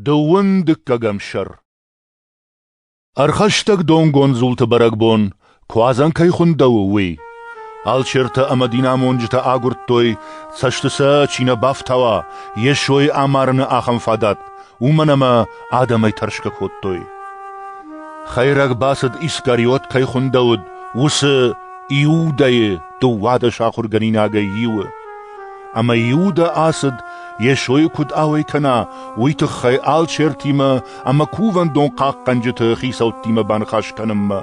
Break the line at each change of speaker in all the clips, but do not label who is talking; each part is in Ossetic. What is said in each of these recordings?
Дыууын дыккӕгӕм сӕр Ӕрхӕстӕг донгонд дзулты бӕрӕгбон куадзӕн кӕй хуындӕуы, уый. Алчертӕ ӕмӕ динамонджытӕ агуырдтой, цӕсты сӕ чи нӕ бафтауа, Йесойы амарыны ахӕм фадат, уымӕн ӕмӕ адӕмӕй тӕрсгӕ кодтой. Хӕйрӕг бацыд Искариот кӕй хуындӕуыд, уыцы Иудӕйы дыууадӕс ахуыргӕнинагӕй иуы. Ӕмӕ Иудӕ ацыд, Йесойы куыд ауӕй кӕна, уый тыххӕй алчертимӕ ӕмӕ кувӕндон хъахъхъӕнджыты хицӕуттимӕ баныхас кӕнынмӕ.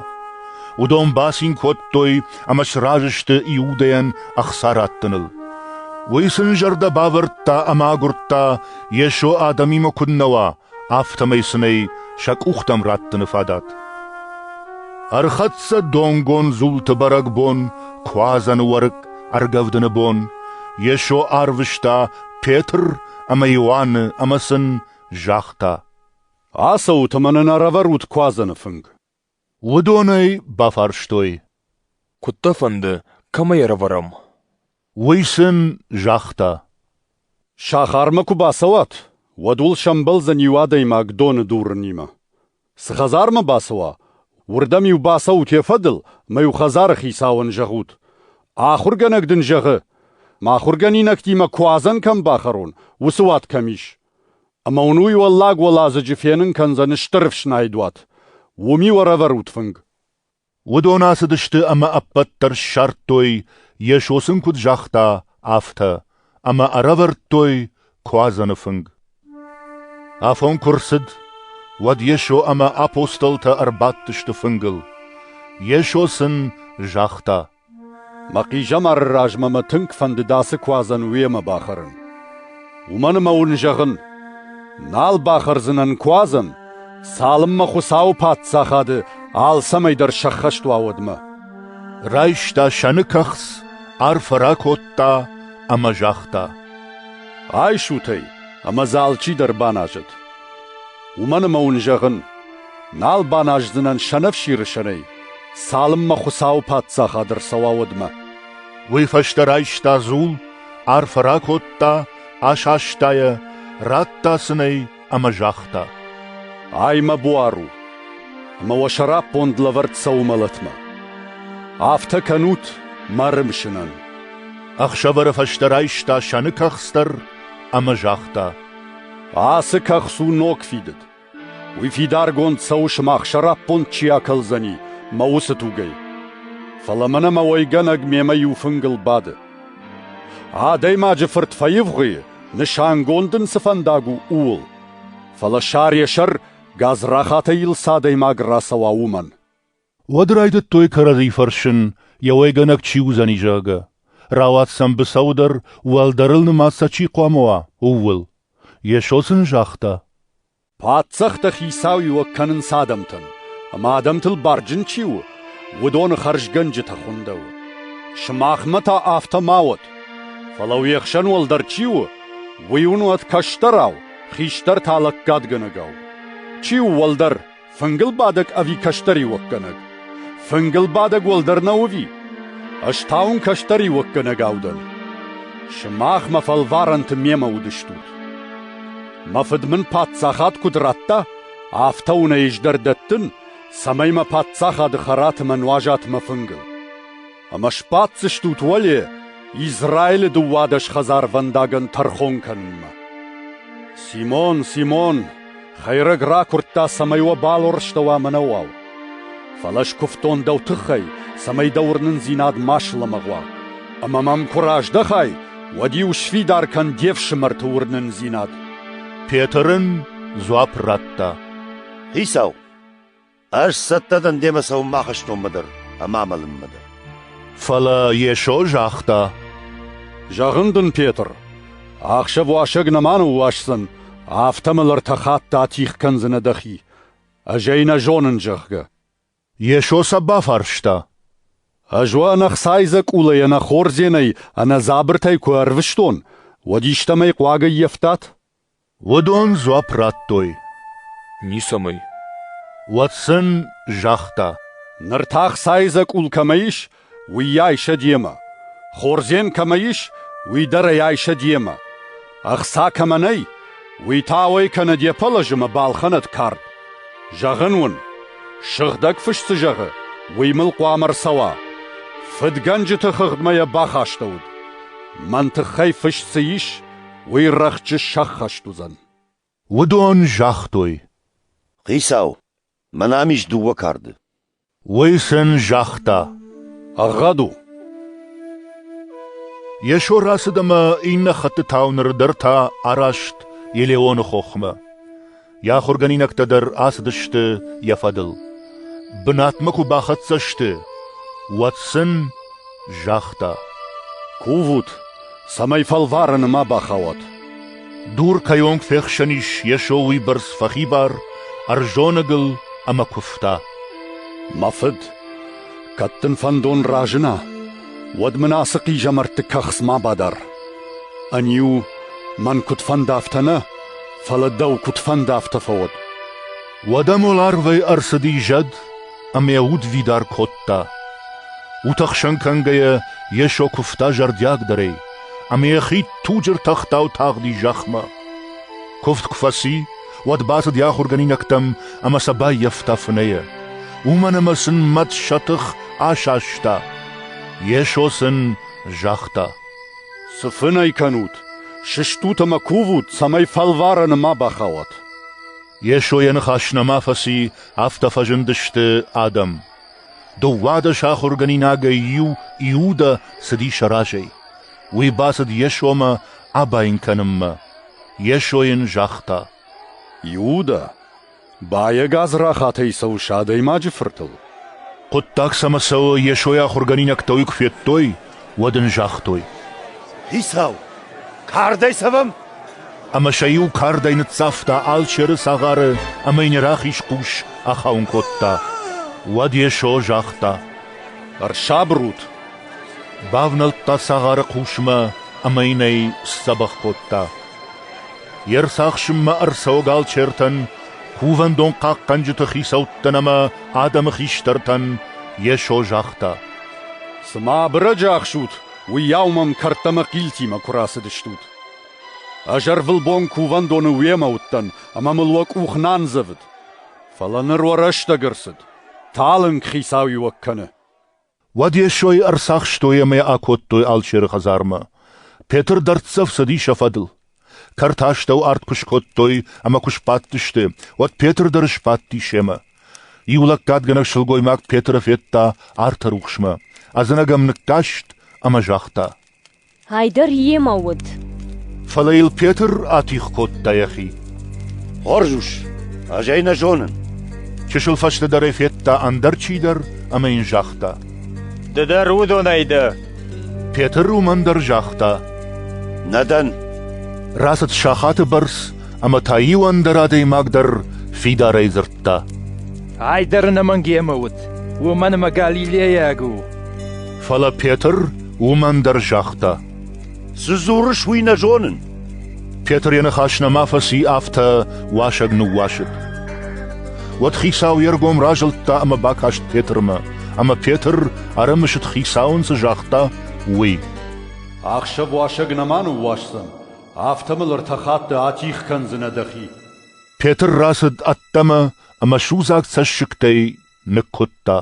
Уыдон бацин кодтой ӕмӕ сразы сты Иудӕйӕн ӕхца раттыныл. Уый сын зӕрдӕ бавӕрдта ӕмӕ агуырдта, Йесо адӕмимӕ куыннӕ уа, афтӕмӕй сын ӕй сӕ къухтӕм раттыны фадат. Ӕрхӕццӕ донгон дзулты бӕрӕгбон Куадзӕны уӕрыкк ӕргӕвдыны бон, Йесо арвыста Петр ӕмӕ Иоанны ӕмӕ сын загъта: «Ацӕут ӕмӕ нын ӕрӕвӕрут Куадзӕны фынг». Уыдон ӕй бафарстой, куыд дӕ фӕнды, кӕмӕй ӕрӕвӕрӕм? Уый сын загъта: «Сахармӕ куы бацӕуат, уӕд уыл сӕмбӕлдзӕн иу адӕймаг доны дурынимӕ. Цы хӕдзармӕ бацӕуа, уырдӕм-иу бацӕут йӕ фӕдыл мӕ-иу хӕдзары хицауӕн зӕгъут: «Ахуыргӕнӕг дын зӕгъы, мӕ ахуыргӕнинӕгтимӕ куадзӕн кӕм бахӕрон, уыцы уат кӕм ис. Ӕмӕ уын уый уӕллаг-уӕладзыджы фенын кӕндзӕн стыр ӕфснайдуат. Уым-иу ӕрӕвӕрут фынг. Уыдон ацыдысты ӕмӕ ӕппӕт дӕр ссардтой, Йесо сын куыд загъта, афтӕ, ӕмӕ ӕрӕвӕрдтой Куадзӕны фынг. Афон куы рцыд, уӕд Йесо ӕмӕ апостолтӕ ӕрбадтысты фынгыл. Йесо сын загъта: Мӕ хъизӕмары размӕ мӕ тынг фӕндыд ацы куадзӕн уемӕ бахӕрын. Уымӕн ӕмӕ уын зӕгъын, нал бахӕрдзынӕн куадзӕн, цалынмӕ Хуыцауы Паддзахады алцӕмӕй дӕр сӕххӕст уа, уӕдмӕ. Райста сӕны кӕхц, арфӕ ракодта ӕмӕ загъта: «Айсут ӕй ӕмӕ дзы алчидӕр баназӕд. Уымӕн ӕмӕ уын зӕгъын, Нал баназдзынӕн сӕнӕфсиры сӕнӕй, цалынмӕ Хуыцауы паддзахад ӕрцӕуа уӕдмӕ. Уый фӕстӕ райста дзул, арфӕ ракодта, асаста йӕ, радта сынӕй ӕмӕ загъта: «Ай мӕ буар у, ӕмӕ уӕ сӕраппонд лӕвӕрд цӕуы мӕлӕтмӕ. Афтӕ кӕнут мӕ рымсынӕн». Ӕхсӕвӕры фӕстӕ райста сӕны кӕхц дӕр ӕмӕ загъта: «Ацы кӕхц у ног фидыд. Уый фидаргонд цӕуы, сымах сӕраппонд чи акӕлдзӕни мӕ уыцы тугӕй. Фӕлӕ мӕнӕ мӕ уӕйгӕнӕг мемӕ иу фынгыл бады. Адӕймаджы фырт фӕивгъуыйы, нысангонд ын цы фӕндаг у, ууыл. Фӕлӕ сӕр йӕ сӕр гадзрахатӕй йыл цы адӕймаг рацӕуа, уымӕн. Уӕд райдыдтой кӕрӕдзи фӕрсын, йӕ уӕйгӕнӕг чи уыдзӕни, зӕгъгӕ, рауад сӕм быцӕу дӕр, уӕлдӕрыл нымад сӕ чи хъуамӕ уа, ууыл. Йесо сын загъта: «Паддзӕхтӕ хицауиуӕг кӕнынц адӕмтӕн, ӕмӕ адӕмтыл барджын чи у, уыдоны хӕрзгӕнджытӕ хуындӕуы. Сымахмӕ та афтӕ ма уӕд: фӕлӕ уе хсӕн уӕлдӕр чи у, уый уын уӕд кӕстӕрау, хистӕр та лӕггадгӕнӕгау. Чи у уӕлдӕр, Фынгылбадӕг ӕви кӕстӕриуӕггӕнӕг? Фынгылбадӕг уӕлдӕр нӕ уови? Ӕз та уын кӕстӕриуӕггӕнӕгау дӕн. Сымах мӕ фӕлварӕнты мемӕ уыдыстут. Мӕ фыд мын паддзахад куыд радта, афтӕ уын ӕй ӕз дӕр дӕттын, цӕмӕй мӕ паддзахады хӕрат мӕ нуазат мӕ фынгыл. Ӕмӕ сбаддзыстут уӕле Израилы дыууадӕс хӕдзарвӕндагӕн тӕрхон кӕнынмӕ. Симон, Симон, хӕйрӕг ракуырдта, цӕмӕй уӕ балуӕрстӕуа мӕнӕ уал. Фӕлӕ скуывтон дӕу тыххӕй, цӕмӕй дӕ уырнындзинад ма слӕмӕгъ уа. Ӕмӕ мӕм куы раздӕхай, уӕд-иу сфидар кӕн де фсымӕрты уырнындзинад. Петрын дзуапп радта: Хицау, Ӕз цӕттӕ дӕн демӕ цӕуынмӕ ахӕстонмӕ дӕр ӕмӕ амӕлынмӕ дӕр. Фӕлӕ Йесо загъта: «Зӕгъын дын, Петр, ӕхсӕв уасӕг нӕма ныууасдзӕн, афтӕ мыл ӕртӕ хатты атигъ кӕндзынӕ дӕхи. Ӕз ӕй нӕ зонын, зӕгъгӕ». Йесо сӕ бафарста: «Ӕз уӕ ӕнӕхцайдзӕкъулӕй, ӕнӕхордзенӕй, ӕнӕдзабыртӕй куы ӕрвыстон, уӕд истӕмӕй хъуаг ӕййӕфтат?» Уыдон дзуапп радтой. Ницӕмӕй. Уӕд сын загъта. Ныр та ӕхцайы дзӕкъул кӕмӕ ис, уыйӕй сӕ демӕ. Хордзен кӕмӕ ис, уый дӕр ӕй сӕ демӕ. Ӕхца кӕмӕ нӕй, уый та уӕй кӕнӕ де пӕлӕз ӕмӕ балхӕнӕд кард. Зӕгъын уын, сыгъдӕг фыс цы зӕгъы, уый мыл хъуамӕ ӕрцӕуа. Фыдгӕнджыты хыгъдмӕ йӕ бахастӕуыд. Мӕн тыххӕй фыс цы ис, уый рӕхджы сӕххӕст уыдзӕн. Уыдон загътой. Хицау, мӕн ам ис дыууӕ карды. Уый сын загъта. Ӕгъгъӕд у. Йесо рацыд ӕмӕ иннӕ хӕттытау ныр дӕр та араст Елеоны хохмӕ. Йӕ ахуыргӕнинӕгтӕ дӕр ацыдысты йӕ фӕдыл. Бынатмӕ куы бахӕццӕ сты, уӕд сын загъта: «Кувут, цӕмӕй фӕлварӕны ма бахауат. Дур кӕй онг фехсӕн ис Йесо уыйбӕрц фӕхибар, ӕрзонӕгыл ӕмӕ куывта. «Мӕ фыд, кӕд дын фӕндон разына, уӕд мын ацы хъизӕмӕртты кӕхц ма бадар. Ӕниу, мӕн куыд фӕнды, афтӕ нӕ, фӕлӕ дӕу куыд фӕнды афтӕ фӕуӕд. Уӕдӕ мыл арвӕй ӕрцыди зӕд ӕмӕ йӕ удвидар кодта. Утӕхсӕн кӕнгӕйӕ Йесо куывта зӕрдиагдӕрӕй, ӕмӕ йӕ хид туджы ртӕхтау тагъди зӕхмӕ. Куывд куы фӕци, уӕд бацыд йӕ ахуыргӕнинӕгтӕм ӕмӕ сӕ баййӕфта фынӕйӕ. Уымӕн ӕмӕ сын мӕт сӕ тых асаста. Йесо сын загъта: Цы фын ӕй кӕнут? Сыстут ӕмӕ кувут, цӕмӕй фӕлварӕны ма бахауат. Йесо йӕ ныхас нӕма фӕци, афтӕ фӕзындысты адӕм. Дыууадӕс ахуыргӕнинагӕй иу Иудӕ цыди сӕ разӕй. Уый бацыд Йесомӕ абайын кӕнынмӕ. Йесо йын загъта: «Иудӕ, Баег Азрахатӕй цӕуыс адӕймаджы фыртыл? Хъуыддаг цӕмӕ цӕуы, Йесойы ахуыргӕнинӕгтӕ уый куы федтой, уӕд ын загътой. «Хицау, кардӕй цӕвӕм?» Ӕмӕ сӕ иу кардӕй ныццавта алчеры цагъары ӕмӕ йын йӕ рахиз хъус ахауын кодта. Уӕд Йесо загъта. «Ӕрсабырут!» Бавнӕлдта цагъары хъусмӕ ӕмӕ йын ӕй сдзӕбӕх кодта. Йе рцахсынмӕ ӕрцӕуӕг алчертӕн, кувӕндон хъахъхъӕнджыты хицӕуттӕн ӕмӕ адӕмы хистӕртӕн Йесо загъта: «Цыма абырӕджы ӕхсут, уыйау мӕм кӕрдтӕмӕ хъилтимӕ куы рацыдыстут. Ӕз ӕрвылбон кувӕндоны уемӕ уыдтӕн ӕмӕ мыл уӕ къух нӕ андзӕвыд. Фӕлӕ ныр уӕ рӕстӕг ӕрцыд, талынг Хицауиуӕг кӕны». Уӕд Йесойы ӕрцахстой ӕмӕ акодтой алчеры хӕдзармӕ. Петр дӕрддзӕф цыди сӕ фӕдыл. Кӕрты астӕу арт куы скодтой ӕмӕ куы сбадтысты, уӕд Петр дӕр сбадти семӕ. Иу лӕггадгӕнӕг сылгоймаг Петры федта арты рухсмӕ, ӕдзынӕг ӕм ныккаст ӕмӕ загъта: Ай дӕр йемӕ уыд. Фӕлӕ йыл Петр атигъ кодта йӕхи. Хорз ус, ӕз ӕй нӕ зонын. Чысыл фӕстӕдӕр ӕй федта ӕндӕр чидӕр ӕмӕ йын загъта. Ды дӕр уыдонӕй дӕ? Петр уымӕн дӕр загъта. Нӕ дӕн. Рацыд сахаты бӕрц, ӕмӕ та иу ӕндӕр адӕймаг дӕр фидарӕй дзырдта. Ай дӕр ӕнӕмӕнг йемӕ уыд, уымӕн ӕмӕ Галилейаг у. Фӕлӕ Петр Уымӕн дӕр загъта: Цы дзурыс, уый нӕ зонын. Петр йӕ ныхас нӕма фӕци, афтӕ уасӕг ныууасыд. Уӕд хицау йе ргом разылдта ӕмӕ бакаст Петрмӕ, ӕмӕ Петр ӕрымысыд хицауӕн цы загъта, уый. Ӕхсӕв уасӕг нӕма ныууасдзӕн, афтӕ мыл ӕртӕ хатты атигъ кӕндзынӕ дӕхи. Петр рацыд ӕддӕмӕ ӕмӕ судзаг цӕссыгтӕй ныккуыдта.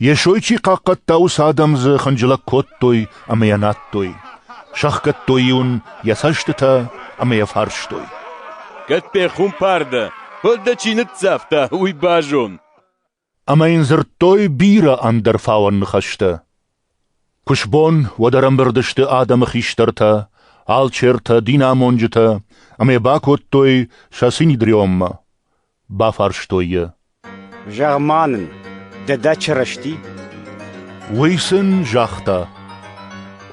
Йесой чи хъахъхъӕдта, уыцы адӕм дзы хынджылӕг кодтой ӕмӕ йӕ надтой, сӕхгӕдтой-иу ын йӕ цӕстытӕ ӕмӕ йӕ фарстой. «Кӕд пехуымпар дӕ, уӕд дӕ чи ныццавта, уый базон!» Ӕмӕ йын дзырдтой бирӕ ӕндӕр фауӕн ныхӕстӕ. Куы сбон, уӕд ӕрӕмбырд сты адӕмы хистӕртӕ, алчертӕ, динамонджытӕ, ӕмӕ бакодтой сӕ синедриоммӕ. Бафарстой йӕ. Зӕгъ-ма нын, дӕдӕ Чырысти? Уый сын загъта.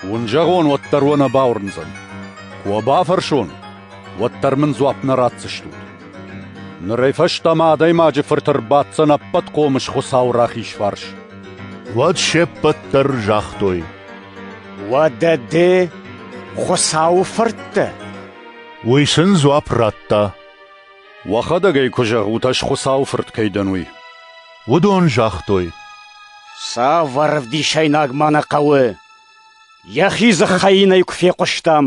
Уын зӕгъон, уӕддӕр уӕ нӕ бауырндзӕн. Куы уӕ бафӕрсон, уӕддӕр мын дзуапп нӕ ратдзыстут. Нырӕй фӕстӕмӕ адӕймаджы фырты рбаддзӕн ӕппӕт хъомыс Хуыцауы рахиз фарс. Уӕд се ппӕт дӕр загътой. Уӕдӕ ды Хуыцауы фырт дӕ? Уый сын дзуапп радта. Уӕхӕдӕг ӕй куы зӕгъут, ӕз Хуыцауы фырт кӕй дӕн, уый. Уыдон загътой. Цавӕр ӕвдисӕйнаг ма нӕ хъӕуы? Йӕхи дзыхӕй йын ӕй куы фехъуыстам.